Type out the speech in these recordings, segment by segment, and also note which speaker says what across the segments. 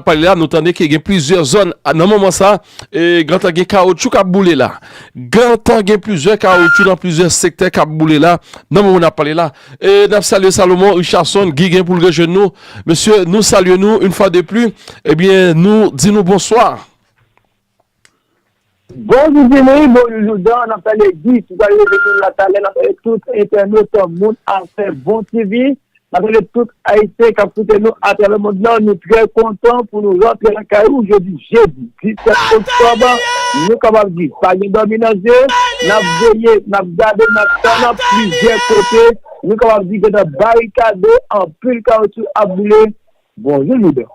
Speaker 1: pale la nou tande ke gen plizyè zòn nan moman sa e gentan gen kawotchou kap boule la gentan gen plizyè kawotchou nan plizyè sektè kap boule la nan moman nap pale la e nap salye Salomon Richardson Guy gen poul rejwenn nou mesye nou salye nou une fwa de pli ebyen nou di nou bonswa.
Speaker 2: Bon zizini, bon joujou dan nap tande di ki pral leve moun la talè nap tande tout entènot moun afè bon TV nap tande tout ayisyen kap koute nou atravè mond lan nou trè kontan pou nou rantre lakay ou jodi jedi 17 oktòb nou kapab di pa gen dòmi nan zye nap veye nap gade nap tann nan plizyè kote nou kapab di gentan barikade anpil kawoutchou ap boule bon joujou dan.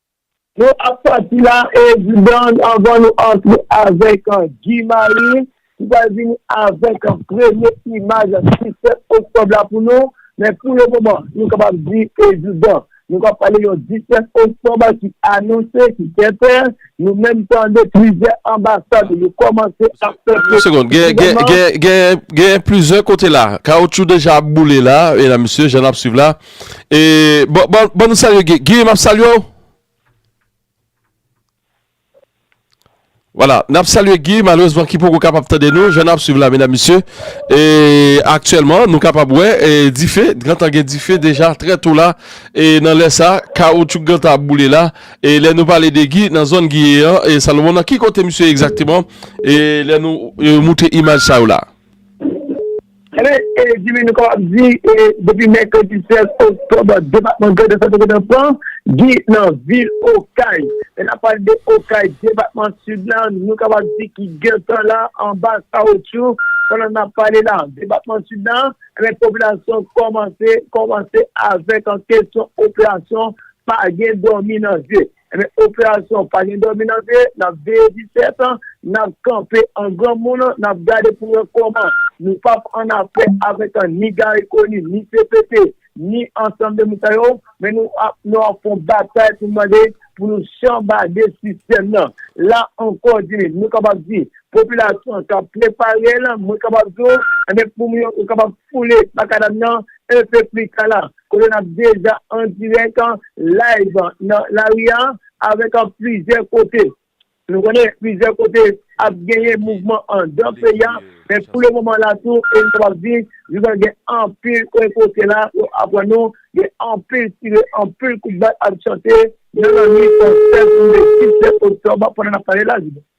Speaker 2: Nou ap pati la evidan anvan nou antre avèk Guy Marie ki pral vini avèk premye imaj 17 oktòb la pou nou men pou le moman nou kapab di evidan nou pral pale yon 17 oktòb ki anonse ki sèten nou menm tande plizyè anbasad yo kòmanse ap fè presyon.
Speaker 1: Genyen plizyè kote la. Kawoutchou deja ap boule la, medam mesye, jan n ap swiv la. E ban nou salye Guy. Guy map salye w. Wala nap salye Guy malerezman ki poko kapab tande nou jan nap swiv la medam mesye. E aktyèlman nou kapab wè dife gentan gen dife deja trè tou la e nan lè sa kawoutchouk gentan ap boule la. E lè nou pale de Guy nan zòn Guy ye an e Salomon nan ki kote misye egzakteman e lè nou moutre imaj sa yo la. Ebyen,
Speaker 2: Jimmy, nou kapab di, depi mèkredi 16 oktòb, depatman Grandans la te gen nan pran di nan vil Okay. Lè n ap pale de Okay, depatman Sid la, nou kapab di ki gen tan la anba kawoutchou pandan n ap pale la. Depatman Sid la, ebyen, popilasyon kòmanse, kòmanse avèk kesyon operasyon pa gen dòmi nan je. Ebyen operasyon pa gen dòmi nan veye, nap veye 17 ans, nap kanpe an granmoun, nap gade pou wè kòman nou pap an afè avèk ni Garry Conille, ni CPT, ni ansanm de moun sa yo, men nou ap nou ap fon batay pou mande pou nou chanbade sistèm nan. La ankò Jimmy, nou kapab di popilasyon an kap prepare l, mwen kapab di w, ebyen pou mwen yo kapab foule makadam nan un peu plus kala. kote n ap deja an dirèk an live nan lari a avèk an plizyè kote nou konnen plizyè kote ap genyen mouvman an dan peyi a men pou le moman la tou e nou kapab di joudan gen anpil kwen kote la yo aprann nou gen anpil tire anpil kout bal ap chante nan lannuit 16 oktòb pandan n ap pale la joudan.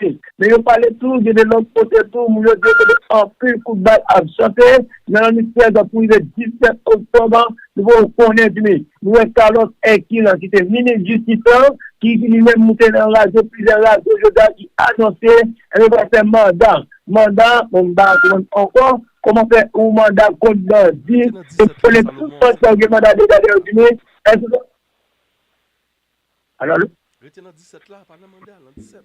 Speaker 2: Wi, men yo pale tou gen de lòt kote tou moun yo di kote anpil kout bal ap chante nan lannuit 16 pou rive 17 oktòb an, nou poko konnen pi nou wè Carlos Hercule ki se minis jistis lan ki li menm moute nan radyo plizyè radyo jodi a ki anonse yo pral fè manda, manda bon m pa konprann ankò kòman fè yon manda kont bandi, nou konnen tout bandi sa yo gen manda deja dèyè yo pi nou èske se. Alo, alo? Rete nan 17 la, pa nan manda, nan 17.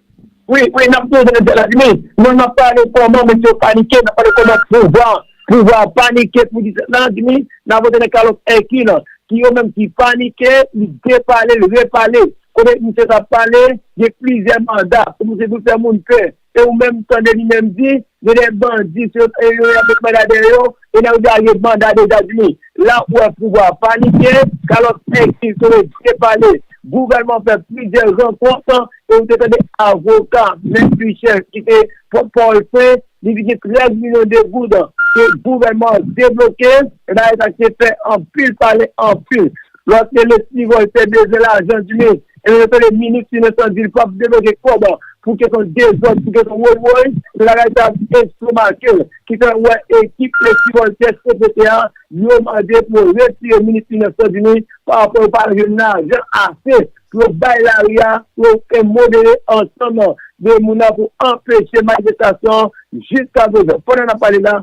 Speaker 2: Wi, wi, n ap toujou nan 17 la, Jimmy. Non, n ap pale kòman mesye yo panike, n ap pale kòman pouvwa an, pouvwa an panike pou 17 la, Jimmy. N ap rete nan kalòt Èki lan, ki yo menm ki panike, li depale, li repale. Kote misye t ap pale, gen plizyè manda, kòmanse vin fè moun pè. E ou menm tande li menm di, gen de bandi se yo t yo ya met manda dèyè yo, e nan yo di a yo banda de etazini. La ou wè pouvwa a panike, kalòt nèg ki sove byen pale, gouvènman fè plizyè rankont, e ou te tande avoka mèt Michel ki te pòt pawòl fè, li di gen 13 milyon de goud ke gouvènman an debloke, e bagay sa ki te fè anpil pale anpil. Lòt rele Stivòl te bezwen lajan di men e yo tande minis finans lan di l pap debloke kòb pou kesyon dezòd pou kesyon woy woy men bagay sa ap estomake l ki fè wè ekip le Stivòl te CPT a yo mande pou yo retire minis finans lan di men pa rapò yo pa jwenn lajan ase pou yo bay lari a pou yo fè modere ansanm de moun nan pou anpeche manifestasyon jiskaprezan pandan n ap pale la.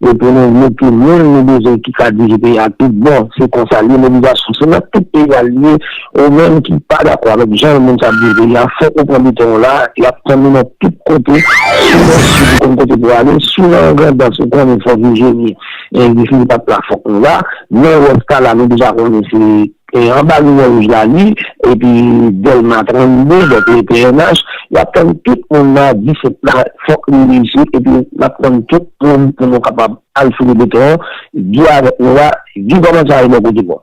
Speaker 3: E pou nou mete moun nou bezwen ki ka dirije peyi a tout bon, se konsa l ye. Mobilizasyon se nan tout peyi a l ye. Ou menm ki pa dakò avèk jan moun sa ap dirije peyi a, fòk ou pran bouton w la. Y ap tann ou nan tout kote. Si w nan sid, ou konn kote pou w ale. Si w nan Grandans, ou konnen fò Vijeni, Guy Philippe ap la, fòk nou la. Nan wès ta la, nou deja konnen se. E anba limyè wouj la li epi Dèlma 32 dòk le pnh yap tann tout moun nan 17 la fòk li reyisi epi nap tann tout moun pou nou kapab al foule beton di avèk nou la di kòman sa ye bò kote nou.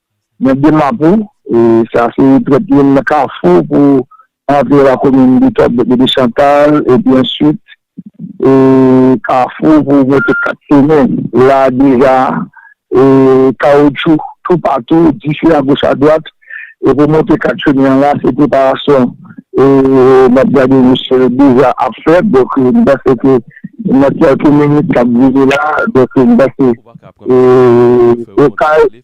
Speaker 2: Mwen de Mapou, e sa se trèt youn nan kafou pou antre lakomin Bidjòb depi de Chantal, epi answit e kafou pou monte 4 semen. La deja e kawotchou toupatou, dife agoch adwat, e pou monte 4 semen an la se preparasyon e map gade misye deja ap fè, donk m panse ke nan kèlke minit kap vini la, donk m panse e Okay.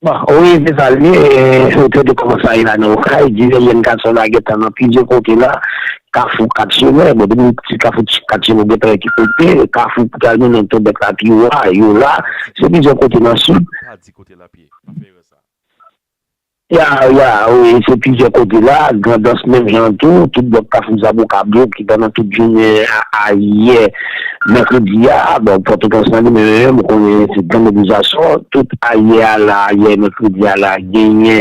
Speaker 3: Bon wi se sa l ye ou te di kòman sa ye la nan okay divès jèn gason la gentan nan plizyè kote la kafou 4 chemè bon depi w sou kafou 4 chemè ou gentan wè ki kote kafou pou ta jounen nan tòbèk la piwa yo la se plizyè kote nan sid. Ya ya wi se plizyè kote la grandans menm jan an tou tout blòk kafou zaboka blo ki pandan tout jounen a yè mèkredi a bon pòtoprens nan li menm menm menm konnen se gran mobilizasyon tout a yè a la a yè mèkredi a la genyen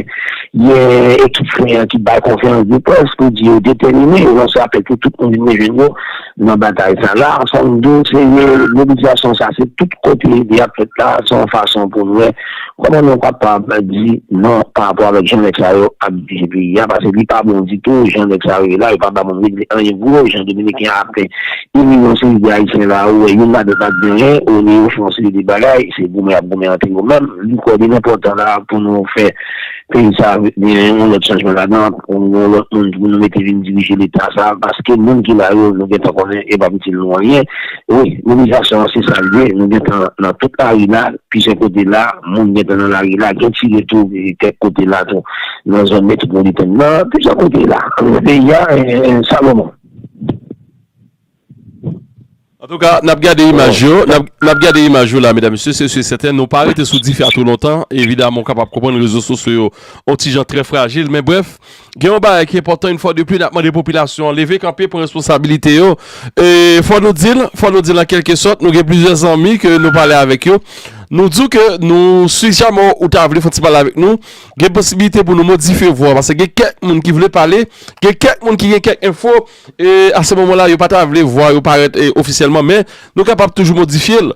Speaker 3: yon ekip fren an ki bay konferans de près pou di yo detèmine yo lanse apèl pou tout moun vin rejwenn yo nan batay sa la, fò m di w se mobilizasyon sa se tout kote li ap fèt la, se yon fason pou n wè kòman nou kapab di non parapò avèk jan nèg sa yo ap dirije peyi a, pase li pa bon ditou jan nèg sa yo ye la, yo pa ba moun regle anyen pou yo, jan dominiken ap fè ini yon seri de ayisyen la, ou wè youn ladan l pa t gen anyen, ou wè yo fè yon seri de bagay, se goumen y ap goumen antre yo menm, li kwè li enpòtan la pou nou fè. Peyi sa a gen yon lòt chanjman ladan l, yon lòt moun pou nou mete vin dirije leta sa a paske moun ki la yo nou gen tan konnen e p ap itil nou anyen. Wi, mobilizasyon an se sa l ye. Nou gen tan nan tout lari la, plizyè kote la, moun gen tan nan lari la, gen tire tou kèk kote la tou nan zòn metwopolitèn nan, plizyè kote la nan peyi a. Salomon.
Speaker 1: Antouka, n ap gade imaj yo, n ap gade imaj yo la medam mesye, se si e sèten nou pa rete sou dife a twò lontan, evidaman ou kapab konprann rezo sosyo yo on ti jan trè frajil men brèf, gen yon bagay ki enpòtan in fwa de pli n ap mande popilasyon an leve kanpe pran responsabilite yo e fò nou di l, fò nou di l an kèlke sòt nou gen plizyè zanmi ke nou pale avèk yo nou di w ke nou si jamè ou ta vle fon ti pale avèk nou gen posibilite pou nou modife vwa w paske gen kèk moun ki vle pale gen kèk moun ki gen kèk enfo. E a se moman la yo pa ta vle vwa yo parèt ofisyèlman men nou kapab toujou modifye l.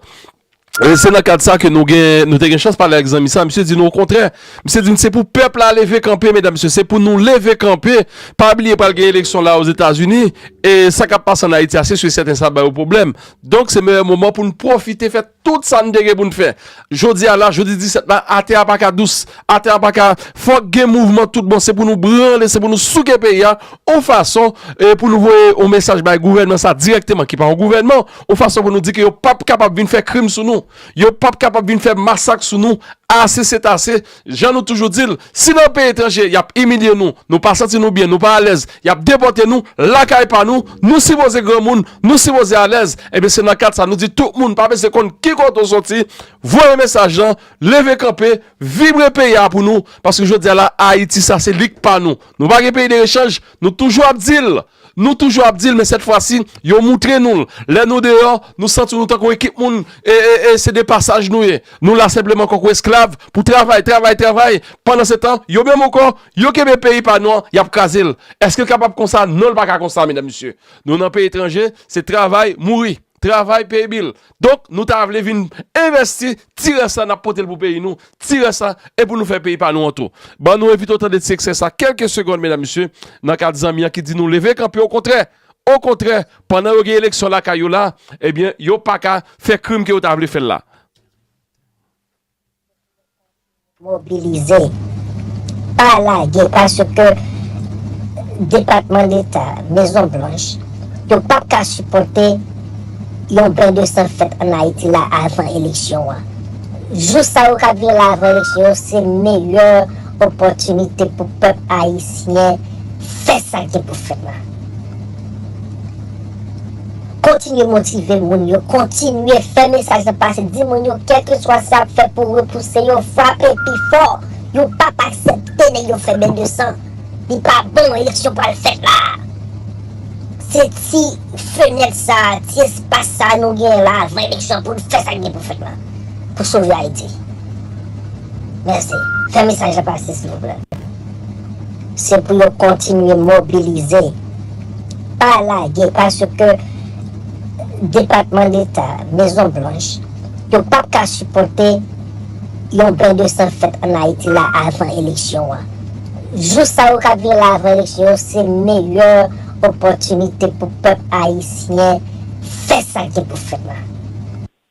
Speaker 1: E se nan kad sa ke nou gen, nou te gen chans pale ak zanmi sa, misye di nou okontrè, misye di n se pou pèp la leve kanpe medam mesye, se pou nou leve kanpe, pa bliye pral gen eleksyon la ozetazini, e sa kap pase an Ayiti a se su e sèten sa ap ba yo pwoblèm, donk se meyè moman pou n pwofite fè. Tout sa n te gen pou n fè. Jodi a la, jodi 17 la, atè a pa ka dous. Atè a pa ka. Fòk gen mouvman tout bon. Se pou nou branle, se pou nou souke peyi a yon fason pou nou voye yon mesaj bay gouvènman sa dirèkteman ki pa yon gouvènman, yon fason pou nou di ke yo pap kapab vin fè krim sou nou. Yo pap kapab vin fè masak sou nou. Ase sètase. Jan nou toujou di l, si nan peyi etranje y ap imilye nou, nou pa santi nou byen, nou pa alèz, y ap depòte nou, lakay pa nou, nou sipoze granmoun, nou sipoze alèz, enben se nan kad sa nou di tout moun pa bezwen konn ki kote w soti, voye mesaj lan, leve kanpe, vibre peyi a pou nou, paske jodi a la Ayiti sa se li k pa nou. Nou pa gen peyi de rechanj, nou toujou ap di l. Nou toujou ap di l men sèt fwa si yo moutre nou l. Lè nou deyò, nou santi nou tankou ekip moun e se de pasaj nou ye. Nou la senpleman konkou esklav pou travay, travay, travay. Pandansetan, yo menm ankò, yo kenbe peyi pa nou an, y ap kraze l. Èske l kapab konsa? Non, l pa ka konsa, medam mesye. Nou nan peyi etranje, se travay, mouri. Travay peye bil. Donk nou ta vle vin envèsti ti rès la n ap pote l pou peyi nou, ti rès la e pou nou fè peyi pa nou an tou. Ban nou evite w tande ti eksè sa kèlke segond medam mesye nan kad zanmi an ki di nou leve kanpe okontrè, okontrè pandan yo gen eleksyon lakay yo la ebyen yo pa ka fè krim ke yo ta vle fè l la.
Speaker 4: Mobilize! Pa lage paske Depatman Deta, Mezon Blanch, yo pap ka sipòte yon ben de san fèt an Ayiti la avan eleksyon an. Jou sa yo kap vini la avan eleksyon yo se meyè opòtinite pou pèp ayisyen fè sa gen pou fèt la. Kontinye motive moun yo, kontinye fè mesaj la pase, di moun yo kèlkeswa sa yap fè pou repouse yo, frape pi fò, yo pap aksepte nèg yo fè beny de san, li pa bon eleksyon pral fèt la, se ti fenèt sa, ti espas sa nou genyen la avan eleksyon pou nou fè sa ki gen pou fèt la, pou sove Ayiti. Mèsi. Fè mesaj la pase silvouplè. Se pou yo kontinye mobilize. pa lage paske depatman deta, mezon blanch yo pap ka sipòte yon ben de san fèt an Ayiti la avan eleksyon an. Jou sa yo kap vini la avan eleksyon yo se meyè opòtinite pou pèp ayisyen fè sa ki pou fèt la.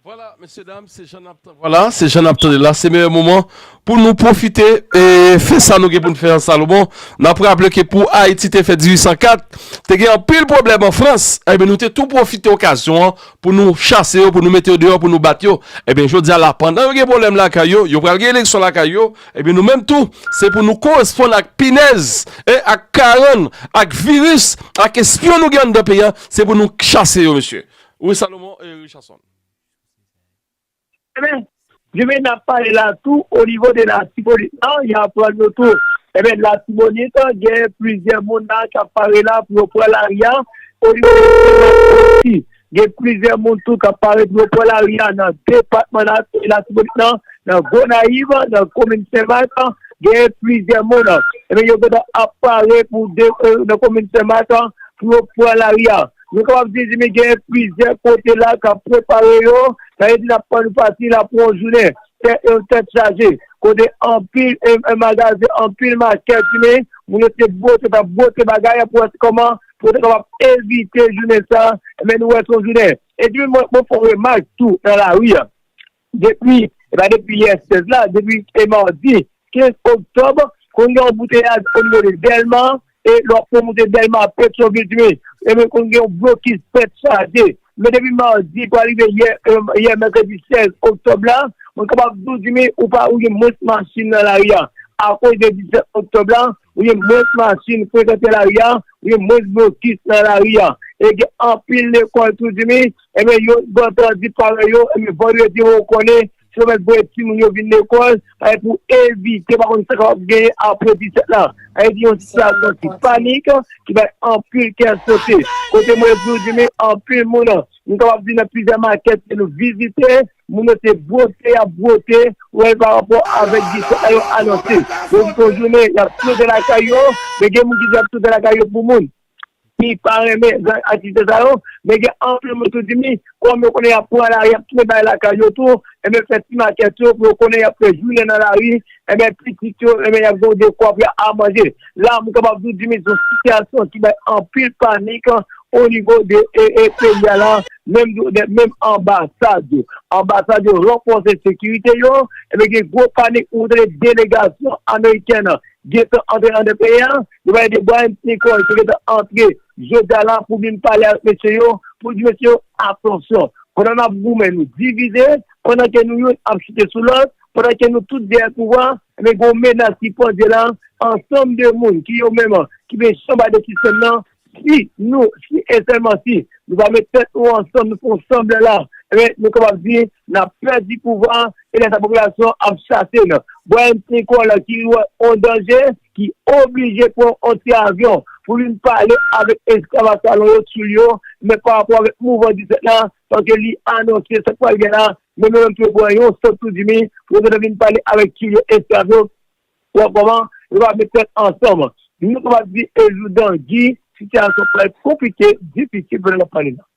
Speaker 4: Vwala
Speaker 1: mesye dam se jan nap vwala se jan nap tande la se meyè moman pou nou pwofite e fè sa nou gen poun fè an Salomon nap raple ke pou Ayiti te fèt 1804 te gen anpil pwoblèm an Frans enben nou te tou pwofite okazyon an pou nou chase yo pou nou mete yo deyò pou nou bat yo enben jodi a la pandan yo gen pwoblèm lakay yo yo pral gen eleksyon lakay yo enben nou menm tou se pou nou koresponn ak pinèz e ak karann ak viris ak espyon nou gen anndan peyi a se pou nou chase yo mesye Wi Salomon Richardson. Ebyen,
Speaker 2: Jimmy nap pale la tou o nivo de latibonit lan ya pran nou tou. Ebyen latibonit gen plizyè moun la kap pare la pou yo pran lari a o nivo de senmak osi gen plizyè moun tou kap pare pou yo pran lari a nan depatman latibonit lan nan gonayiv nan komin senmak gen plizyè moun ebyen yo gentan ap pare pou nan komin senmak pou yo pran lari a. Nou kapab di di gen plizyè kote la k ap prepare yo, sa vle di n ap tann pati la pou yon jounen tèt chaje, kote anpil magazen, anpil makèt di men moun yo te bwote, t ap bwote bagay pou wè kòman pou yo te kapab evite jounen sa, men nou wè se yon jounen. Epi mwen fè yon remak tou nan lari a, Depi, e pa depi yè 16 la, depi e madi 15 oktòb, konn gen anbouteyaj onivo de Dèlma, e lè w ap fè moute Dèlma a Petyonvil tou ye, ebyen konn gen yon blokis tèt chaje. Men depi madi pou al rive yè, yè mèkredi 16 oktòb la, mwen kapab di w Jimmy, ou pa, ou gen mwens machin nan lari a. Akoz de 17 oktòb la, ou gen mwens machin frekante lari a, ou gen mwens blokis nan lari a. E gen anpil lekòl tou Jimmy, Ebyen yo bon tan di parèy yo, ebyen vandredi ou konnen si yo mèt voye timoun yo vin lekòl, ebyen pou evite pa konn sa kapab genyen apre 17 la. Sa vle di yon sitiyasyon ki panik, ki bay anpil kè sote. Kote mwen di ou Jimmy, anpil moun, nou kapab di nan plizyè makèt ke nou vizite, moun yo se bwote y ap bwote ou wè pa rapò avèk 17 la yo anonse. Yo di se yon jounen y ap sote lakay yo, men gen moun ki di y ap sote lakay yo pou moun. ki pa renmen zak atis sa yo, men gen anpil moun tou di mi, kòm yo konnen y ap pran lari, y ap tounen bay lakay yo tou, enben fè ti makèt yo pou yo konnen y ap fè jounen nan lari, enben pitit yo, enben y ap gen yon dekwa pou y ap manje. La m kapab di w di mi se yon sitiyasyon ki bay anpil panik onivo de peyi a la, menm di w de menm anbasad yo. Anbasad yo ranfòse sekirite yo, enben gen gwo panik pou w tande delegasyon amerikèn gentan antre anndan peyi a. Yo pale de Brian Secoy ki gentan antre jodi a la pou vin pale avèk mesye yo pou l di mesye yo atansyon pandan n ap goumen nou divize pandan ke nou youn ap chite sou lòt pandan ke nou tout dèyè pouvwa ebyen gen yon menas ki pandye la ansanm de moun ki yo menm ki vle chanba de sistèm nan si nou si e sèlman si nou pa met tèt nou ansanm nou fè yon sanble la ebyen nou kapab di n ap pèdi pouvwa e lè sa popilasyon an ap chase n Brian Secoy la ki wè yon danje. ki oblije pran on ti avyon pou vin pale avèk esklav ak salon yo t sou l yo, men pa rapò avèk mouvman 17 la, paske li anonse sa k pral gen la, men yo menm tou yo pran yon sot tou di mi, pou yo gentan vin pale avèk tyoul yo esklav yo, ou wè kòman, yo pa met tèt ansanm. Nou kapab di e joudan Guy, sitiyasyon pral konplike, difisil pandan n ap pale la.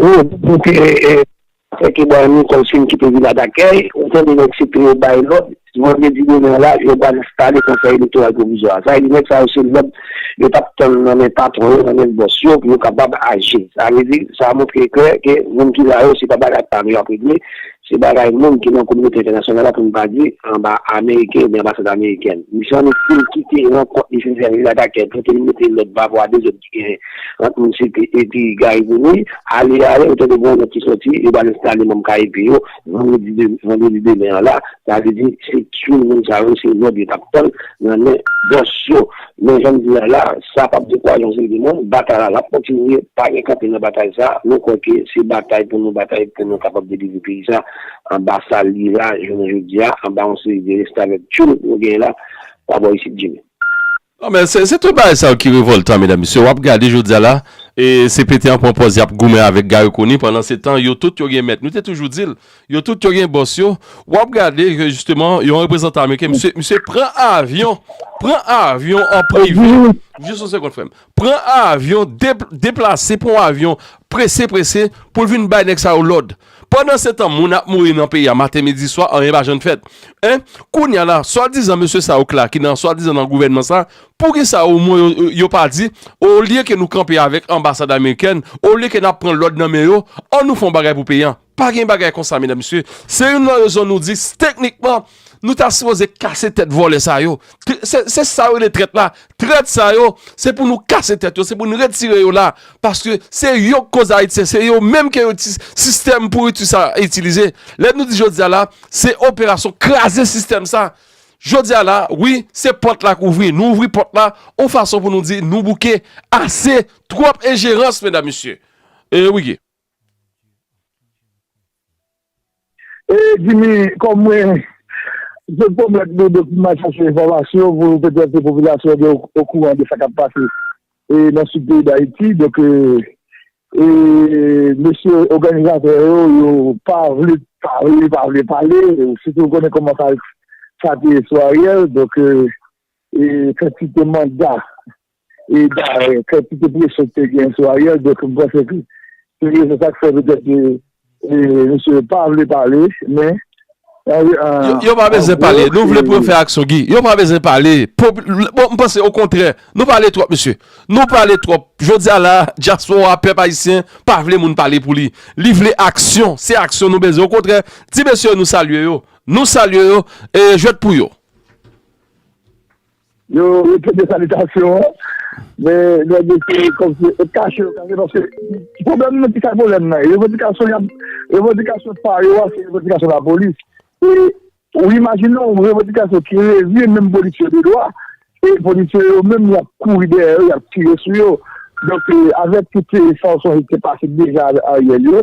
Speaker 3: Ou pou ke Franky Bois ni Kòmsim kite vila dakèy, ou tande nèg CP yo bay lòd, vandredi demen an la, yo pral enstale Konsèy Elektoral Pwovizwa a. Sa vle di nèg sa yo se lòd yo t ap tann nan men patwon yo, nan men bòs yo pou yo kapab aji. Sa vle di, sa montre klè ke moun ki la yo se pa bagay pa nou y ap regle, se bagay moun ki nan kominote entènasyonal la, pou nou pa di anba ameriken oubyen anbasad amerikèn. Misye an estime kite rankont li fin fè vila dakèy pou ke li mete lòd pa rapò a dezòd ki gen ant Mississippi epi Gary Conille, ale ale ou tande gwo nòt ki sòti, yo pral enstale manm KEP yo vandredi demen an la, sa vle di se tchoul moun sa yo se lòd yo tap tann nan men bòs yo. Men janm di a la, sa pap dekouraje yon seri de moun, batay la lap kontinye, pa gen kanpe nan batay sa, nou kwè ke se batay pou nou batay pou nou kapab delivre peyi sa anba sa l ye la jounen jodi a, anba yon seri de restavèk tchoul nou genyen la pa bò isit Jimmy. Non men
Speaker 1: se tout bagay sa yo ki revoltan medam mesye wap gade jodia la cpt an pran pòz yap goumen avèk Garry Conille pandan se tan yo tout yo gen mèt nou te toujou dil yo tout yo gen bòs yo wap gade ke jisteman yon reprezantan ameriken mesye mesye pran avyon pran avyon an prive jis yon sekond frèm pran avyon deplase pran avyon prese prese poul vin bay nèg sa yo lòd Pandansetan moun ap mouri nan peyi a maten midi swa anyen pa jann fèt en kounya la swadizan mesye sa ok la ki nan swadizan nan gouvènman sa poukisa o mwen yo pa di olye ke nou kanpe avèk anbasad amerikèn olye ke nap pran lòd nan men yo an nou fon bagay pou peyi an pa gen bagay konsa medam mesye se youn nan rezon nou di teknikman Nou ta sipoze kase tèt vòlè sa yo. Se sa yo rele trèt la. Trèt sa yo, se pou nou kase tèt yo. Se pou nou retire yo la. Paske se yo k koz Ayiti. Se yo menm ke yo ti sistèm pouriti sa a itilize. Lè nou di jodi a la, se operasyon kraze sistèm sa. Jodi a la, wi, se pòt la k ouvri. Nou ouvri pòt la, yon fason pou nou di nou bouke. Ase, twòp enjerans, medam mesye. E wi.
Speaker 2: Ee Jimmy, kòm mwen te pwomèt nou depi mwen chache enfòmasyon pou petèt popilasyon an gen okouran de sa k ap pase nan sid peyi Dayiti, donk mesye òganizatè yo, yo pa vle pale, yo pa vle pale, sitou ou konnen kòman sa te ye sou Ariel, donk yo fè ti te manda e bare kantite presyon ki te gen sou Ariel, donk m panse ke se rezon sa k fè petèt ke misye pa vle
Speaker 1: pale, men an. Yo pa bezwen pale, nou vle pou yo fè aksyon Guy, yo pa bezwen pale, bon m panse okontrè nou pale twòp mesye, nou pale twòp, jodi a la dyaspora pèp ayisyen pa vle moun pale pou li, li vle aksyon, se aksyon nou bezwen okontrè, ti mesye nou salye yo, nou salye yo, e jwèt pou yo.
Speaker 2: Yo retire salitasyon an, men nèg yo se kòmsi yo kache yo kache paske ki pwoblèm nan ki sa pwoblèm nan ye revandikasyon y ap revandikasyon pa yo a se revandikasyon lapolis e ou imajine yon revandikasyon ki revye menm polisye yo dedwa e polisye yo menm y ap kouri dèyè yo y ap tire sou yo donk avèk tout sa w sonje ki te pase deja avèk Ariel yo.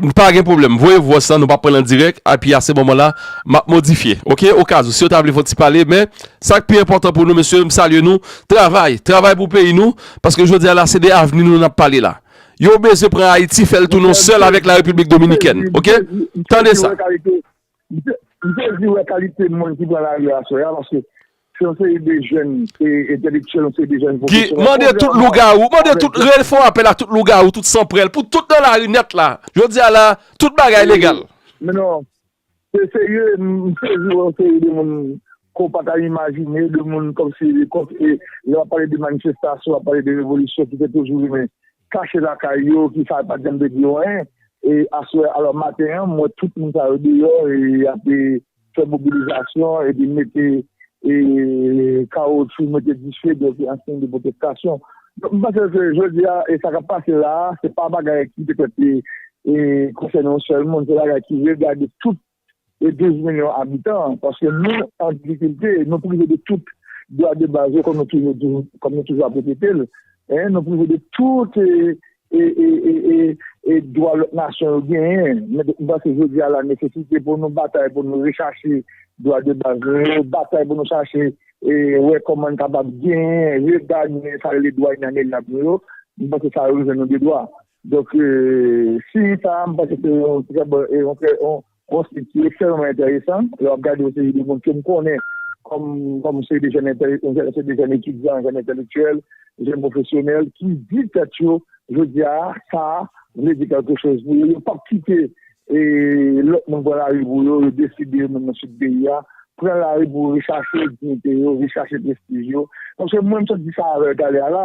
Speaker 1: M pa gen pwoblèm voye vwòs la nou pa pranl an dirèk api a se moman la map modifye ok okazou si yo ta vle fon ti pale men sak pi enpòtan pou nou mesye m salye nou travay travay pou peyi nou paske jodi a la se de avni nou nap pale la yo bezwen pran ayiti fèl tounen yon sèl avèk la repiblik dominikèn ok tande sa.
Speaker 2: M te di wè kalite moun ki pran lari aswè a paske se yon seri de jèn entèlektyèl, yon seri de jèn pwofesyonèl. Mande tout
Speaker 1: lougawou, mande tout, m fè yon apèl a tout lougawou, tout sanprèl pou tout nan lari nèt la. Jodi a la, tout bagay legal. Men non,
Speaker 2: se serye, m sezi wè yon seri de moun ke w pa ta imajine, de moun kòmsi, lè w ap pale de manifestasyon, w ap pale de revolisyon ki te toujou rive. Kache lakay yo, ki sa yo pa t janm te di yo anyen. E aswè, alò maten an, m wè tout moun sa yo deyò e y ap fè mobilizasyon epi mete kawotchou, mete dife, donk an siy de pwotestasyon. Donk m panse ke jodi a, e sa k ap pase la a, se pa bagay ki petèt konsène yon sèl moun, se bagay ki regade tout e 12 milyon abitan, paske nou an difikilte, nou prive de tout dwa de baz yo, kòm nou toujou di, kòm nou toujou ap repete l, nou prive de tout dwa lòt nasyon yo genyen. Mwen panse jodi a la, nesesite pou nou batay pou nou rechache dwa de baz nou yo, batay pou nou chache wè kòman n kapab genyen, regagnen sa rele dwa inalienab nou yo, mwen panse sa revè nou de dwa. Donk, si sa a, m panse se yon trè bon, yon trè, yon sit ki ekstrèmeman enteresan. Lè w ap gade yon seri de moun ke m konnen kòm, kòm yon seri de jèn entèl, yon seri de jèn etidyan, jèn entèlektyèl, jèn pwofesyonèl ki di tèt yo jodi a, sa a vle di kèlke choz pou yo. Yo p ap kite lòt moun pran lari pou yo. Yo deside yo menm nan sid peyi a pran lari pou rechache diyite yo, rechache prestij yo. Paske mwen m sot di sa avè w talè a la,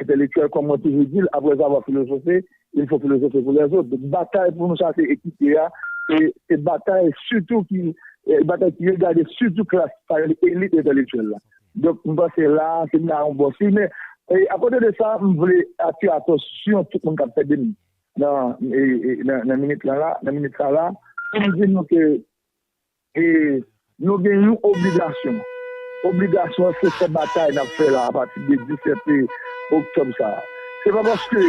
Speaker 2: Entelektyèl kòm mwen toujou di l, aprèzavwa filozofe, il fo filozofe pou lèzot. Donk batay pou nou chase ekite a, se batay sitou ki batay ki regade sitou klas sa rele elit entelektyèl la. Donk m panse la a se ba yon bon siy. Men, akote de sa, m vle atire atansyon tout moun k ap tande m nan minit lan la, nan minit sa la, pou m di nou ke E nou gen yon obligasyon. Obligasyon an se fè batay n ap fè la apati de 17 oktòb sa a. Se pa paske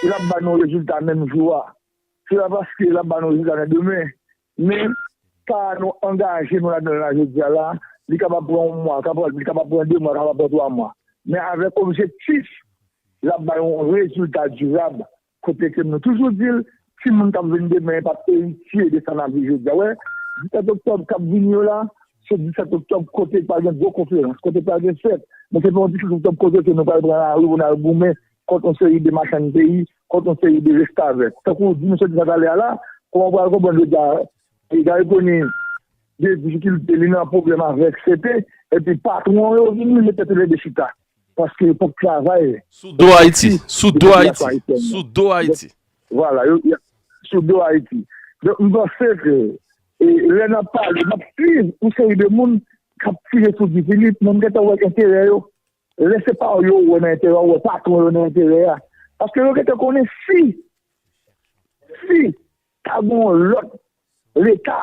Speaker 2: l ap ba nou rezilta menm jou a, se pa paske l ap ba nou rezilta nan demen. Men, sa nou angaje nou ladan l la jodi a la, li kapab pran yon mwa, li kapab pran de mwa, li kapab pran twa mwa. Men avèk objektif l ap bay yon rezilta dirab Kote ke nou toujou di l, timoun k ap vin demen yo p ap eritye de sa n ap viv jodi a. Ou wè, 17 oktòb k ap vini yo la, se 17 oktòb kote pral gen gwo konferans, kote pral gen fèt. Men se pa yon 17 oktòb kote ke nou pral pran lari pou n al goumen kont yon seri de machann peyi, kont yon seri de restavèk. Tankou w di misye di sa talè a la, kouman w pral konprann jodi a, Li bay koni de difikilte li nan pwoblèm avèk CP epi patwon yo vin mete tèt yo lè 2 chita paske yo pap k travay. Sou do Ayiti.
Speaker 1: Sou do Ayiti. Sou do Ayiti. Vwala. Yo
Speaker 2: y ap. Sou do Ayiti. Donk m panse ke lè n ap pale m ap swiv yon seri de moun k ap tire sou Guy Philippe men m gentan wè enterè yo. Lè se pa w yo wè nan enterè w wè patwon yo nan enterè a. Paske yo gentan konnen si si. Ta gen yon lòt Leta,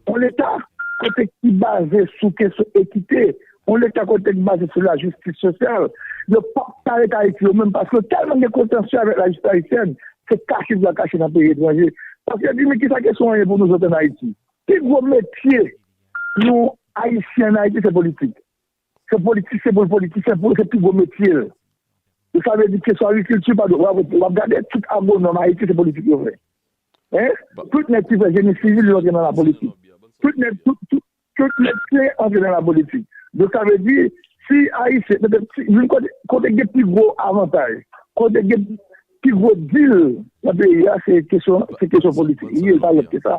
Speaker 2: yon Leta kote ki baze sou kesyon ekite, yon Leta kote ki baze sou lajistis sosyal. Yo p ap pale k Ayiti yo menm paske yo tèlman gen kontansye avèk lajistis ayisyèn, se kache yo pral kache nan peyi etranje. Paske yo di men kisa kesyon an ye pou nouzòt ann Ayiti. Pi gwo metye yon Ayisyen ann Ayiti se politik. Se politisyen pou l politisyen pou l se pi gwo metye l. Donk sa vle di kesyon agrikilti pa dwe w ap gade tout agwonòm Ayiti se politik yo fè. Tout nèg ki fè jeni sivil yo antre nan lapolitik. Tout nèg tout nèg ki antre nan lapolitik. Donk sa vle di si Ayisyen youn kote gen pi gwo avantaj kote gen pi gwo dil nan peyi a se kesyon politik li ye e pa lòt ke sa.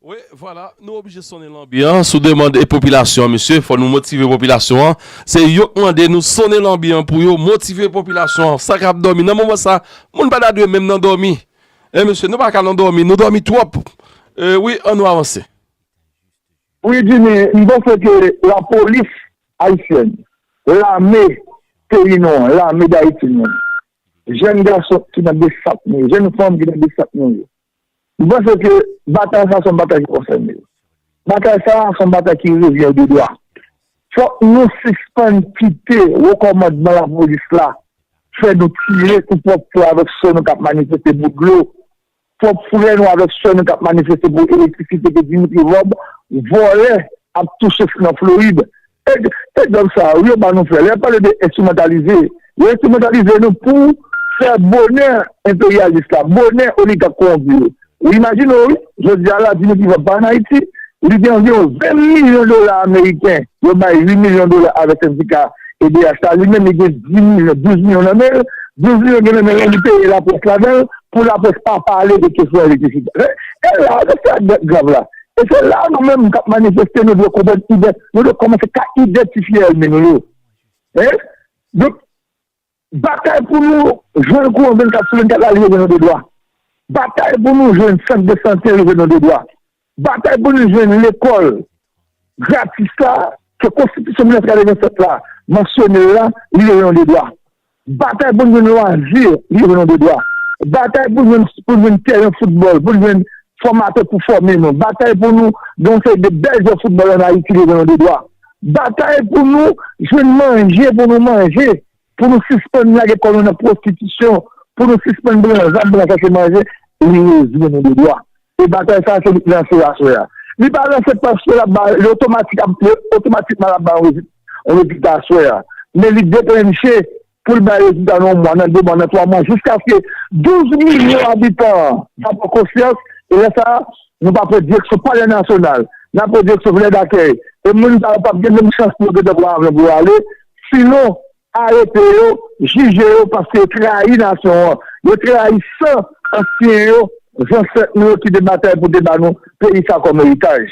Speaker 1: Wi vwala nou oblije sonnen lanbi an sou demand e popilasyon mesye fò nou motive popilasyon an se yok mande nou sonnen lanbi an pou yo motive popilasyon an sa kap dòmi nan moman sa moun pa ta dwe menm nan dòmi e mesye nou paka nan dòmi nou dòmi twòp e wi an nou avanse.
Speaker 2: Wi Jimmy, m panse ke la polis ayisyèn, lame peyi nou an, lame dayiti nou an, jèn gason ki nan besap nou yo, jèn fanm ki nan besap nou yo, M panse ke batay sa se yon batay ki konsène yo. Batay sa se yon batay ki revyen yo de dwa. Fòk nou sispann kite wo kòmandman lapolis la fè nou tire sou pwòp frè avèk sè nou k ap manifeste pou dlo, pwòp frè nou avèk sè nou k ap manifeste pou elektrisite ke Dimitri Vorbe vòlè ap touche nan Florid et et zòv sa yo wi yo ba nou fè lè yap pale de enstrimentalize yo enstrimentalize nou pou fè bonè enperyalis la bonè oligak kowonpi yo ou imajine w wi jodia la di nou ki vòt pa an Ayiti li gen anviwon 20 milyon dola ameriken yo bay 8 milyon dola avè sendika edh la li menm li gen 10 milyon 12 milyon nan men l 12 milyon gen nan men l la li peye laprès ladan l pou laprès pa pale de kesyon elektrisite e la se sa ki grav la E se la a nou menm kap manifeste nou dwe konprann ident, nou dwe kòmanse ka idantifye èlmi nou yo. Hein? Donk batay pou nou jwenn kouran 24 sou 24 la li rive nou dedwa. Batay pou nou jwenn sant de sante rive nou dedwa. Batay pou nou jwenn lekòl gratis la ke konstitisyon 1987 la mansyone l la li rive nou dedwa. Batay pou n jwenn lwazi yo jwenn de dwa. Batay pou n jwenn tèren foutbòl, pou n jwenn fòmatè pou fòme nou. Batay pou nou gen yon seri de bèl jwè foutbòl ann Ayiti yo jwenn de dwa. Batay pou nou jwenn manje pou nou manje, pou nou sispann lage kò nou nan pwostitisyon, pou nou sispann bran zam pou n al chache manje, li rezime nou de dwa. E batay sa a se li k lanse aswè a. Li pa lanse paske l ap ba, li otomatik ap, li otomatikman l ap bay yon rezilta aswè a. Men li deklenche pou l bay rezilta nan yon mwa, nan de mwa, nan twa mwa, jiskaske 12 milyon abitan an va pran konsyans. E lè sa a, nou va pran direksyon palè nasyonal, n ap pran direksyon vilaj dakèy. E moun sa yo p ap gen menm chans pou yo gentan pran avyon pou yo ale. Sinon, Arete yo, jije yo paske yo trayi nasyon an, yo trayi san ansyen yo, zansèt nou yo ki te batay pou te ba nou peyi sa kòm eritaj.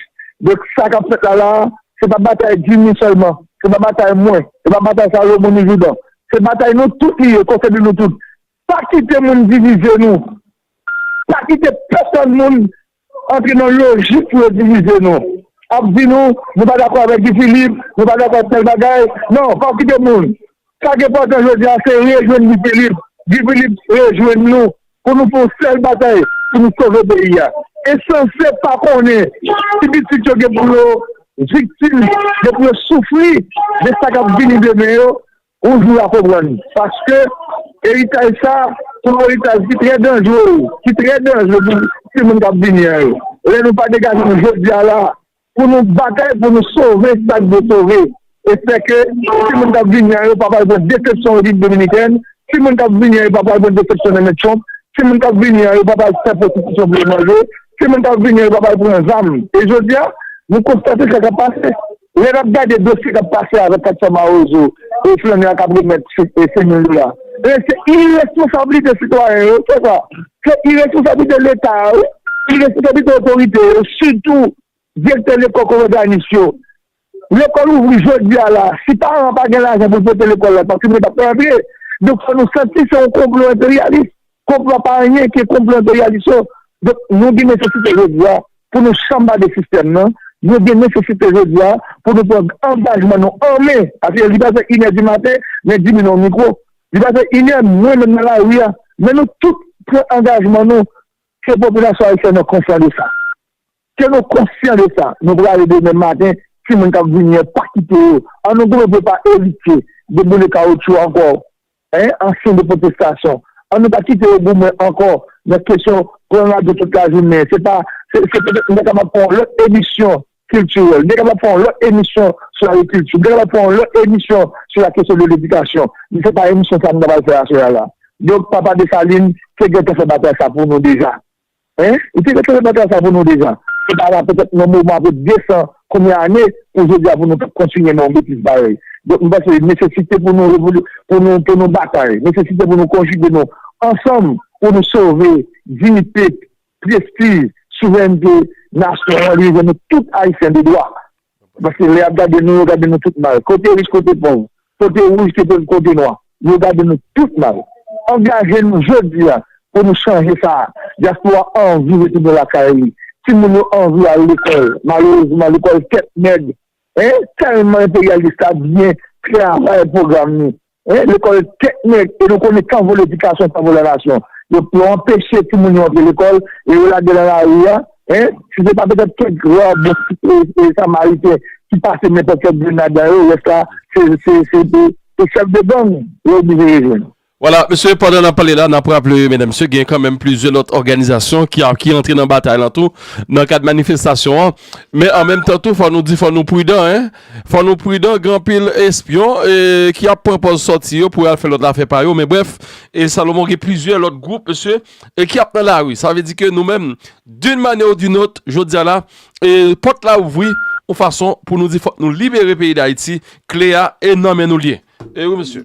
Speaker 2: Donk sa kap fèt la la a, se pa batay Jimmy sèlman, se pa batay mwen, se pa batay Salomon ni Jourdan, se batay nou tout li ye, konsène nou tout. Pa kite moun divize nou, pa kite pèsòn moun antre nan lojik pou yo divize nou, ap di nou nou pa dakò avèk Guy Philippe, nou pa dakò ak tèl bagay, non pa okipe moun, sa ki enpòtan jodi a se rejwenn Guy Philippe, Guy Philippe rejwenn nou pou nou fè yon sèl batay pou nou sove peyi a, ensanse pa konnen si pitit yo gen pou yo viktim, gen pou yo soufri de sa kap vini demen yo. Yon jou wap konprann paske eritaj sa son eritaj ki trè danjre ki trè danjre pou timoun kap vini an yo lè nou pa degaje nou jodia la pou nou batay pou nou sove sak dwe sove e fè ke timoun kap vini an yo pa pral pran desepsyon repiblik dominikèn timoun kap vini an yo pa pral pran desepsyon nan men trump timoun kap vini an yo pa pral fè pwostitisyon pou yo manje timoun kap vini an yo pa pral pran zam e jodia nou konstate sa kap pase. Lè n ap gade dosye k ap pase avèk 400 mawozo e flannè a k ap remèt 5 mil dola, e se iresponsablite sitwayen yo, se sa, se iresponsablite Leta a wi, iresponsablite otorite yo, sitou direktè lekòl kou òganis yo. Lekòl ouvri jodi a la, si paran an pa gen lajan pou l pote lekòl la, paske moun yo pa p ka antre, donk fò nou santi se yon konplo enperyalis. Konplo pa anyen ke konplo enperyalis yo. Donk nou gen nesesite jodi a pou nou chanba de sistèm nan. Nou gen nesesite jodi a pou nou pran angajman nou an men. Paske li pa fè inè di maten, men di minen yon mikwo. Li pa fè inè, mwen menm nan lari a. Men nou tout pran angajman nou ke popilasyon ayisyèn an konsyan de sa. Ke nou konsyan de sa. Nou prale demen maten, timoun k ap vini an, pa kite yo. An nou goumen pou yo pa evite deboule kawotchou ankò. Hein ansyen de potestasyon an nou pa kite yo goumen ankò nan kesyon pran radyo tout la jounen se pa se se petèt nou ta kapab fè yon lòt emisyon kiltirèl nou ta kapab fè yon lòt emisyon sou agrikilti nou ta kapab fè yon lòt emisyon sou la kesyon de ledikasyon men se pa emisyon sa nou ta pral fè aswè a la donk papa Dessalines te gentan fè batay sa pou nou deja. Hein? Li te retire pantal sa pou nou deja. Se pa la petèt yon moman apre 200 konbyen ane pou jodi a pou nou tap kontinye nan yon betiz parèy. Donk m panse nesesite pou nou revolu, pou nou pou nou batay, nesesite pou nou konjige nou ansanm pou nou sove diyite, prestij, souverènte nasyon an rive nou tout Ayisyen de dwa. Paske lè y ap gade nou, yo gade nou tout mal. Kote rich, kote pòv. Kote wouj, kote nwa. Yo gade nou tout mal. Angaje nou jodi a pou nou chanje sa a. Dyaspora anvi retounen lakay li. Timoun yo anvi al lekòl. Malerezman, lekòl tèt nèg. Tèlman enperyalis la byen travay pwogram li. Hein lekòl tèt nèg e nou konnen tanvol edikasyon tanvol la nasyon yo yo anpeche timoun yo antre lekòl e yo lage nan lari a hein si se pa petèt kèk ra bon samariten ki pase men pòt kèk grenn ladan yo rès la se se se de se chèf de gang yo oblije rejwenn.
Speaker 1: Wala mesye pandan nap pale la nap raple medam mesye gen kanmenm plizyè lòt òganizasyon ki a ki antre nan batay lan tou nan kad manifestasyon an men an menm tan tou fò nou di fò nou pridan hein. Fò nou pridan gen anpil espyon ki ap pran pòz sòti yo pou al fè lòt afè pa yo men brèf e Salomon gen plizyè lòt gwoup mesye e ki ap nan lari sa vle di ke nou menm dun manyè ou dun ot jodi a la e pòt la ouvri ou fason pou nou di fòk nou libere peyi dayiti kle a e nan men nou l ye e wi mesye.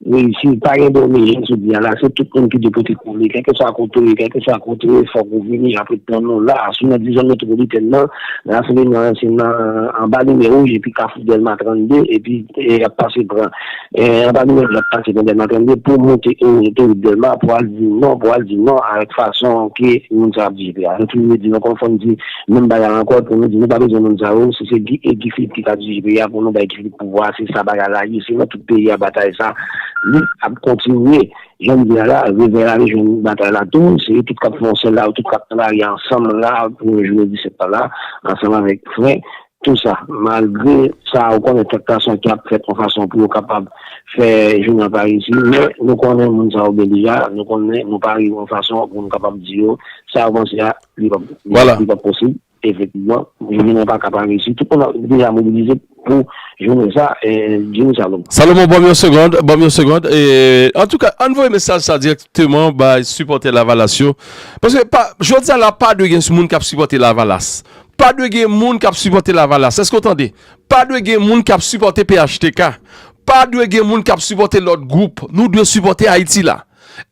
Speaker 3: Wi si pa gen domi jan sou di a la se tout moun ki dwe pote kole kèlkeswa kote ou ye kèlkeswa kote ou ye fòk ou vini a pou tann nou la sou nan dizon metwopolitèn nan rasanbleman an se nan anba limyè wouj epi kafou dèlma 32 epi yap pase pran anba limyè wouj yap pase pran dèlma 32 pou moute otowout dèlma pou al di non pou al di non avèk fason ke moun sa ap viv la nou toujou di nou konn fò nou di menm bagay ankò pou nou di nou pa bezwen moun sa yo si se guy philippe ki ka dirije peyi a pou nou bay guy philippe pouvwa se sa bagay la ye se nan tout. peyi a batay sa li ap kontinye janm di a la revè a ale jwenn batay la tou se yo tout kap fè yon sèl la yo tout kap travay ansanm la pou yon jounen 17 tan la ansanm avèk frè tou sa malgre sa ou konnen kèk tansyon ki ap fèt yon fason pou yo kapab fè jounen an pa reyisi men nou konnen moun sa yo gen deja nou konnen nou pa rive yon fason pou nou kapab di yo sa yo panse a li pap posib. Efektivman, jounen an pa ka pa reyisi. Tout moun ap deja mobilize pou jounen sa a, Jimmy Salomon. Salomon, banm yon segond,
Speaker 1: banm yon segond. Antouka, ann voye mesaj sa dirèkteman bay sipòtè Lavalas yo. Paske, jodi a la, pa dwe gen moun k ap sipòte Lavalas. Pa dwe gen moun k ap sipòte Lavalas. Èske ou tande? Pa dwe gen moun k ap sipòte phtk. Pa dwe gen moun k ap sipòte lòt gwoup. Nou dwe sipòte Ayiti la.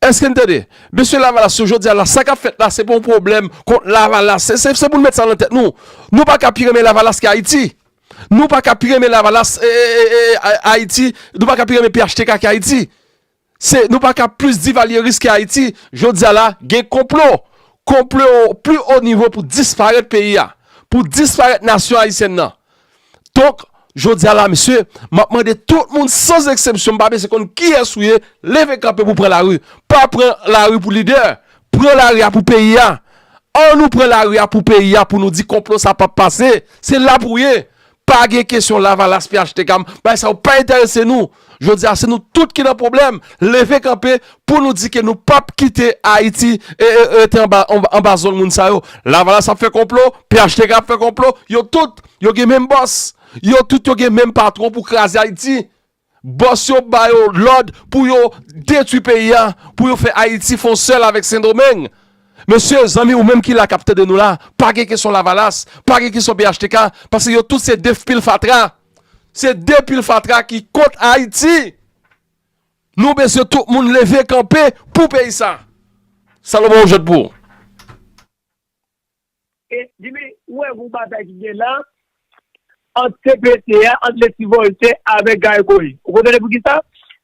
Speaker 1: Eske n tande? Mesye lavalas yo jodi a la sa k ap fèt la se pa yon pwoblèm kont lavalas. Se pou nou met sa nan tèt nou. Nou pa ka pi renmen lavalas ke Ayiti. Nou pa ka pi renmen lavalas Ayiti. Nou pa ka pi renmen phtk ke Ayiti. Se nou pa ka plis divalyeris ke Ayiti. Jodi a la gen konplo. Konplo pli o nivo pou disparèt peyi a. Pou disparèt nasyon Ayisyèn nan. Donk, jodi a la mesye, m ap mande tout moun sans eksepsyon, m pa bese konn kiyès ou ye, leve kanpe pou pran lari. Pa pran lari pou lidè, pran lari a pou peyi a. An nou pran lari a pou peyi a pou nou di konplo sa p ap pase. Se la pou ye. Pa gen kesyon lavalas, phtk, bagay sa yo pa enterese nou. Jodi a se nou tout ki nan pwoblèm, leve kanpe pou nou di ke nou pap kite Ayiti rete anba zong moun sa yo. Lavalas ap fè konplo, phtk ap fè konplo, yo tout yo gen menm bòs, yo tout yo gen menm patwon pou kraze Ayiti. Bòs yo ba yo lòd pou yo detwi peyi a, pou yo fè Ayiti fon sèl avèk Sendomeng. Mesye, zanmi ou menm ki la kap tande nou la, pa gen kesyon lavalas, pa gen kesyon phtk, pase yo tout se de fpil fatra. Se de pil fatra ki kont Haiti. Nou besye tout moun leve kanpe pou peyi sa. Salomon ou jwet pou ou.
Speaker 2: E dimi ou wè gon batay ki gen la ant CPT a ant Leslie Voltaire avèk Guy Boy ou konprann poukisa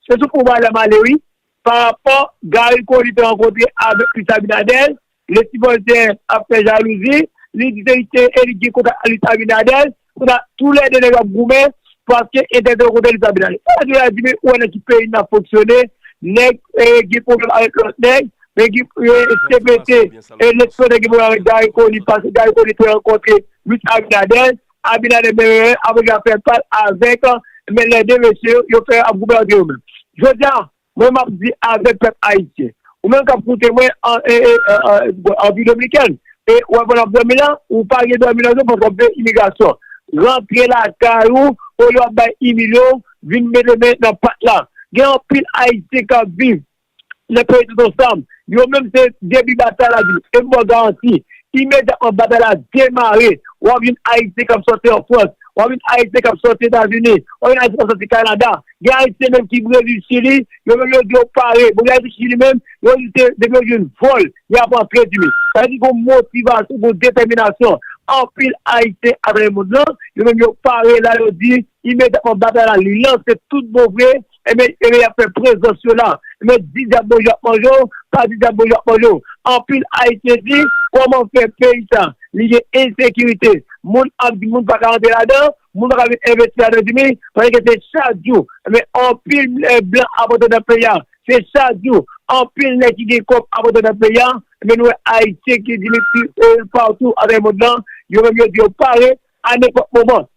Speaker 2: se sou fon bal la m ale wi. Pa rapò Garry Conille te rankontre avèk Luis Abinader, Lesly Voltaire ap fè jalouzi, li di se li ki te eli ki gen kontak ak Luis Abinader, kou sa tou lè 2 nèg yo ap goumen paske entèl te rankontre Luis Abinader. Sa Jovenel a di men ou wè nan ki peyi n ap fonksyone, nèg gen pwoblèm avèk lòt nèg, men gen CPT, Lesly Voltaire gen pwoblèm avèk Garry Conille paske Garry Conille te rankontre Luis Abinader, Abinader Mereren ap rega fè pal avèk men lè 2 mesye yo fè ap goumen antre yo menm. Jodia mwen map di avèk pèp ayisyen. Ou menm kap koute mwen an Rpi Dominikèn e wè pandan wap dòmi la ou pa gen dòmi nan zon paske wap veye imigrasyon. Rantre lakay ou olye wap bay imilye w vin mete men nan pat la. Gen anpil ayisyen kap viv Lè peyi tout ansanm, yo menm se debi batay la di, e m ba w garanti, imedyatman batay la demare, w ap jwenn Ayisyen k ap sòti an Frans, w ap jwenn Ayisyen k ap sòti Etazini, w ap jwenn Ayisyen k ap sòti Kanada, gen Ayisyen menm ki Brezil, Chili, yo menm yo di yo pare, bon gen Ayisyen ki Chili menm, yo di se depi yo jwenn vòl, y ap antre di. Sa vle di gen yon motivasyon, gen yon detèminasyon anpil Ayisyen atravè mond lan, yo menm yo pare la, yo di imedyatman batay la li lanse tout bon vre, Ebyen ebyen yap fè prezans yo la ebyen di dyab bonjou ap manje w pa di dyab bonjou ap manje w anpil ayisyen di kòman fè peyi sa li gen ensekirite moun ap di moun paka antre ladan moun paka vin envesti ladan di mi pale ke se chak jou ebyen anpil blan ap antre nan peyi a se chak jou anpil nèg ki gen kòb ap antre nan peyi a ebyen nou wè ayisyen ki di mi pi patou atravè mond lan yo menm yo di yo pare a nenpòt moman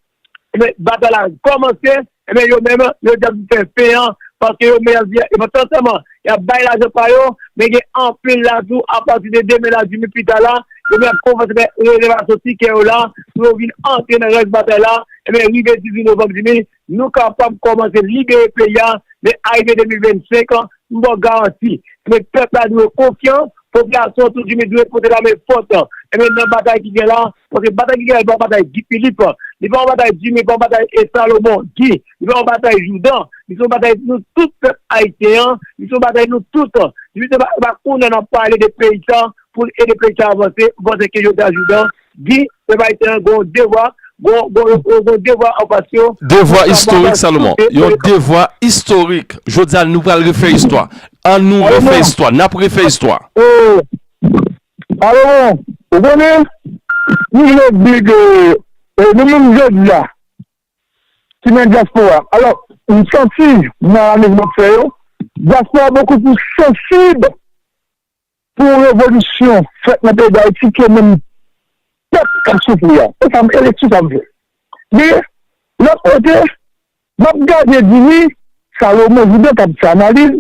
Speaker 2: Ebyen batay la kòmanse, ebyen yo menm yo di yap fè fen an paske yo menm yap di e pandan tan an yap bay lajan pa yo men gen anpil la tou apati de demen la di mi pita la yo menm yap kòmanse fè rezèvasyon tikè yo la pou yo vin antre nan rès batay la ebyen rive 18 novanm di mi nou kapab kòmanse libere peyi a men arive 2025 m baw garanti ebyen pèp la dwe konfyan Popilasyon tou di Midouri pote lame fòs. Ebyen nan batay ki gen la, paske batay ki gen la li pa yon batay Guy Philippe, li pa yon batay Jimmy, li pa yon batay E. Salomon Guy, li pa yon batay Jourdan, li se yon batay nou tout pèp ayisyen an, li se yon batay nou tout. Depi se pa kounye a n ap pale de peyi sa pou n ede peyi sa avanse, m panse ke jodi a Jourdan Di, pèp ayisyen an gen yon devwa, gen yon devwa anfas yo. Devwa istorik
Speaker 1: Salomon, yon devwa istorik. Jodi a nou pral refè istwa. An nou refè istwa, n ap refè istwa. Salomon,
Speaker 3: ou konnen, nou vle di ke nou menm jodi a ki nan dyaspora, alò m santi nan analiz m ap fè yo, dyaspora bokou plis sansib. Pou yon revolisyon fèt nan peyi Dayiti ke menm pèp kap soufri a. Se sam eleksyon sa m fè. Men lòt kote map gade dimi Salomon Jourdan kap fè analiz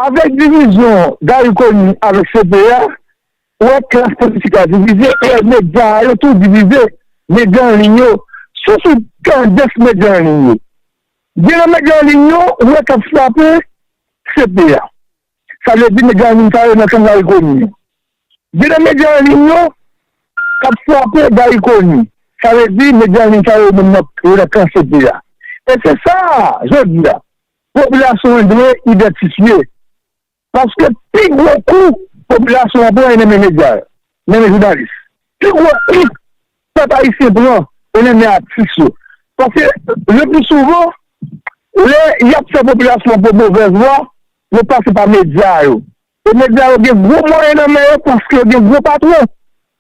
Speaker 3: avèk divizyon Garry Conille avèk CP a ou wè klas politik la divize ou wè medya a yo tou divize medya anliy yo. Si w sou tandans medya anliy yo. Gen nan medya an liy yo ou wè k ap frape CP a, sa vle di medya an liy sa yo nan Kanga Ikoni an. Gen nan medya an liy yo k ap frape Guy Ikoni, sa vle di medya an liy sa yo menm yo nan kan CP a. E se sa, jodi a, popilasyon an dwe idantifye. Paske pi gwo kou popilasyon an pran e menmen medya yo, menmen jounalis. Pi gwo kou pèp ayisyen pran e menmen atis yo. Paske le pli souvan, lè y ap fè popilasyon an pran movèz vwa, yo pase pa medya yo. E medya yo gen gwo mwayen nan men yo paske yo gen gwo patwon.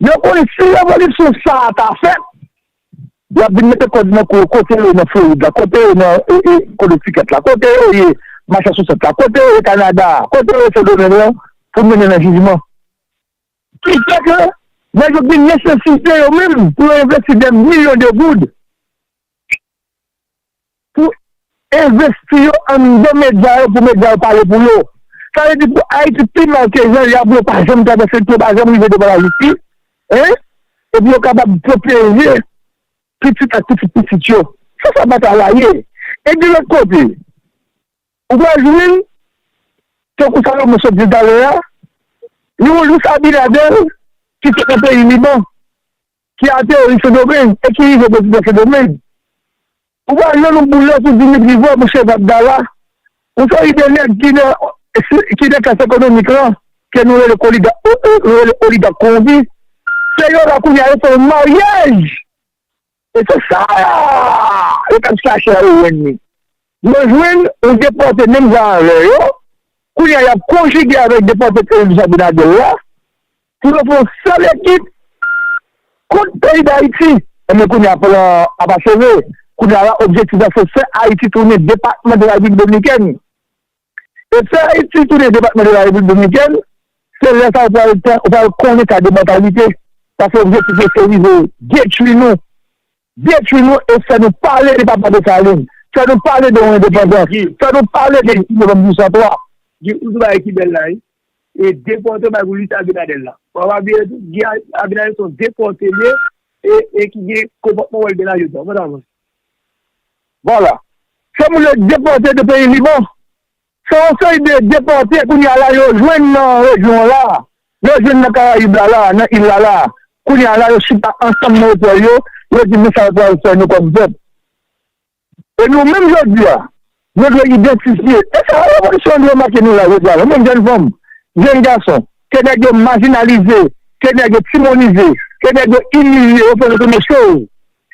Speaker 3: Yo konnen si revolisyon sa a ta fèt, y ap vin mete kòd nan kou yo, kote yo nan Florid la, kote yo nan Konektikèt la, kote yo ye Masasousèt la, kote yo ye Kanada a, kote yo ye Sendomeng lan pou mennen nan jijman. Ki fè ke nèg yo gen nesesite yo menm pou yo envesti dè milyon de goud. pou envesti yo anndan medya yo pou medya yo pale pou yo. Sa vle di pou Ayiti pi mal ke jan li ap yo pa janm travèse lpi yo pa janm rive devan lajistis hein epi yo kapab pwoteje pitit ak pitit pitit yo. Se sa batay la ye. E de lòt kote ou pral jwenn tankou sa Rameau sot di talè a yon Luis Abinader ki sot nan peyi Liban. ki ateri Sendomeng e ki rive prezidan Sendomeng. Ou pa jwenn yon boulè sou Dimitri Vorbe ou Shev Abdallah, yon seri de nèg ki nan klas ekonomik lan ke nou rele koligat, nou rele oligat konwonpi, se yo la kounye a yo fè yon maryaj e se sa yo tap chache a yo jwenn li. Yo jwenn yon depòte menm jan avè yo, kounye a yap konjige avèk depòte Kennedy Abinader la Pou yo fè yon sèl ekip kont peyi Dayiti. Ebyen kounye a plan a pa cheve. Kounye a la objektif la se fè Ayiti tounen depatman de la Repiblik Dominikèn. E fè Ayiti tounen depatman de la Repiblik Dominikèn, se lè sa ou pral konnen ka de mantalite. Paske objektif yo se rive detwi nou. Detwi nou e fè nou pale de Papa Desalin, fè nou pale de yon endepandans, fè nou pale de 18 novanm 1803. Guy ou di bagay
Speaker 2: ki bèl la wi e depòte bagay pou Luis Abinader la wap abiye tou Guy Abinader se yon depòte li ye e ki gen konpòtman wòl gen la jodi an mèt avans. Vwala.
Speaker 3: Fè moun yo depòte de peyi Liban. Se yon seri de depòte kounye a la yo jwenn nan rejyon an la, yo jwenn nan Karayib la la, nan il la la. Kounye a la yo chita ansanm nan otèl yo, yo di men sa yo pral fè nou kòm pèp. E nou menm jodi a, nou dwe idantifye. E sa revolisyon an dwe make nou la jodi a la, nou menm jèn fanm, jèn gason, ke nèg yo majinalize, ke nèg yo timonize, ke nèg yo imilye, yo fè nou tounen chòv.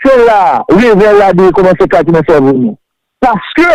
Speaker 3: Se la a, revèy la dwe kòmanse klati nan sèvo nou. Paske.